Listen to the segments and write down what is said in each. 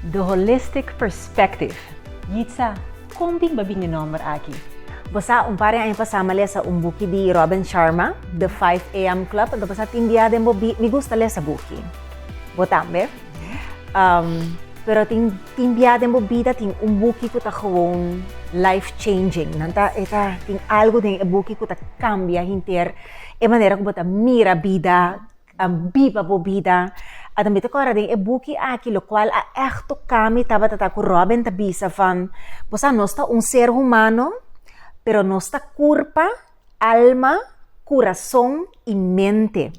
The Holistic Perspective. Yitza, kon bimba bin e nòmber aki? Bo sa, un par di aña pasá mi a lesa un buki di Robin Sharma, The Five AM Club, anto bo sa tin dia den bo bi, mi gusta lesa buki. Bo tambe? Pero tin tin bia den bo bida tin un buki ku ta gewoon life changing. Nan ta, e ta tin algu den e buki ku ta kambia henter. e manera ku bo ta mira bida, a biba bo bida. A tambe ta kòrda den e buki aki lokual a ègt toká mi tabata ta ku Robin ta bisa van, bo sa nos ta un ser humano, pero nos ta kurpa, alma, kurason i mente.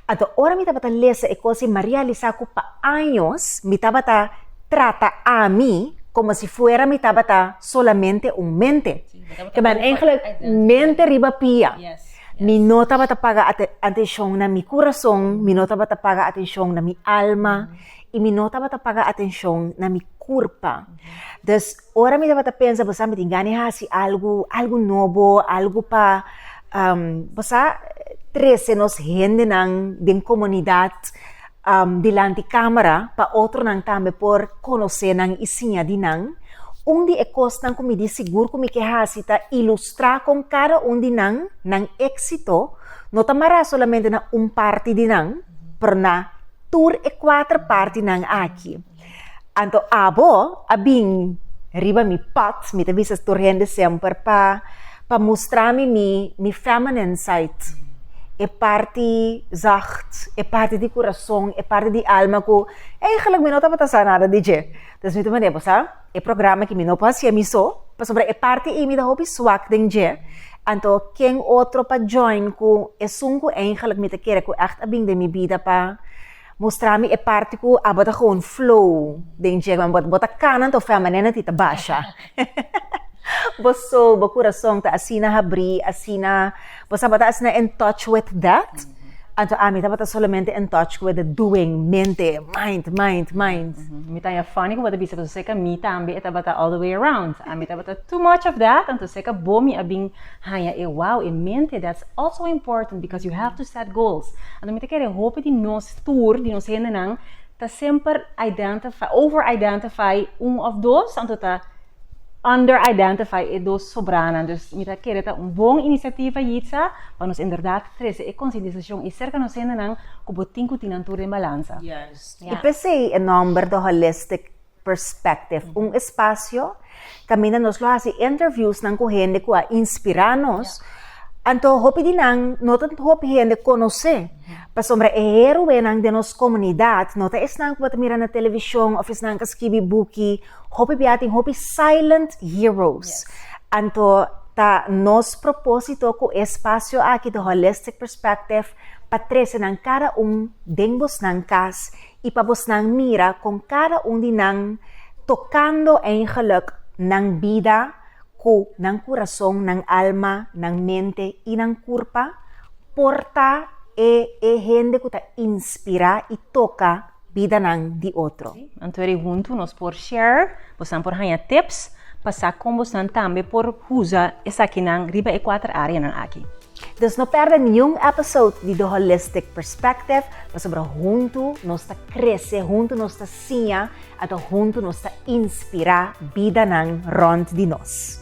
Anto ora mi tabata lesa e kos i Maria a lisa ku pa años mi tabata trata ami como si fuera mi tabata solamente un mente. Que ben eigenlijk mente riba pia. Mi no tabata paga atención na mi corazón, mi no tabata paga atención na mi alma y mi no tabata paga atención na mi curpa. Dus ora mi tabata pensa, bosa mi tin gana hasi algo, algo nobo, algo pa, bosa, trece nos hendenan den comunidad. um, dilanti camera, pa otronan tambe por conoce nan y siña di nan. Un di e cosnan cu mi di sigur cu mi ke haci ta ilustra con cada un di nan, nan exito, no ta mara solamente na un parti di nan, pero na tur e cuater partinan aki. Anto abo a bin riba mi pad, mi ta bisa tur hende semper pa pa mustra mi mi mi feminine side, e parti zacht, e parti di kurason, e parti di alma ku eigenlik mi no tabata sa nada di dje. Dus mi ta manera, bo sa, e programa aki mi no por hasié mi so, pasobra e parti ei mi ta hopi swak den dje, anto ken otro pa join ku esun ku eigenlik mi ta kere ku ègt a bin den mi bida pa Mustra mi e parti ku abo ta gewoon flow den djeba mi, bo ta kana anto feminine ti ta basha. Bo soul, bo kurason ta asina habrí, asina, bo tabata asina in touch with that, anto ami tabata solamente in touch with the doing, mente, mind, mind, mind. Mi ta ya funny ku bo ta bisa pasobra serka mi tambe e tabata all the way around. Ami tabata too much of that, anto serka bo mi a bin Haña e wou e mente, that's also important because you have to set goals. Anto mi ta kere hopi di nos tur, di nos hendenan, ta semper identify, over identify un of dos, anto ta under identify e dos sobranan. Dus mi ta kere ta un bon inisiativa Yitza pa nos inderdat trese e konsientisashon ei serka nos hendenan ku bo tin ku tin nan tur den balansa. Yes. I p'esei e nòmber The Holistic Perspective, un espasio kaminda nos lo hasi interviewsnan ku hende ku a inspirá nos, anto hopi di nan no ta hopi hende konosé, pasobra e héroenan den nos komunidat no ta esnan ku bo ta mira na televishon òf esnan ku a skibi buki, hopi bia tin hopi silent heroes, anto ta nos propósito ku e espasio aki The Holistic Perspective pa trese nan kada un den bosnan kas y pa bosnan mira con cada un di nan tocando eigenlijk nan bida cu nan curazon, nan alma, nan mente y nan curpa por ta e e hende cu ta inspira y toca bidanan di otro. Anto eri hunto nos por share, bosnan por hanja tips pa sa con bosnan tambe por huza esakinan riba e cuater areanan aki. Dus no perde niun episode di The Holistic Perspective, pasobra huntu nos ta krese, huntu nos ta siña, ata huntu nos ta inspirá bidanan rònt di nos.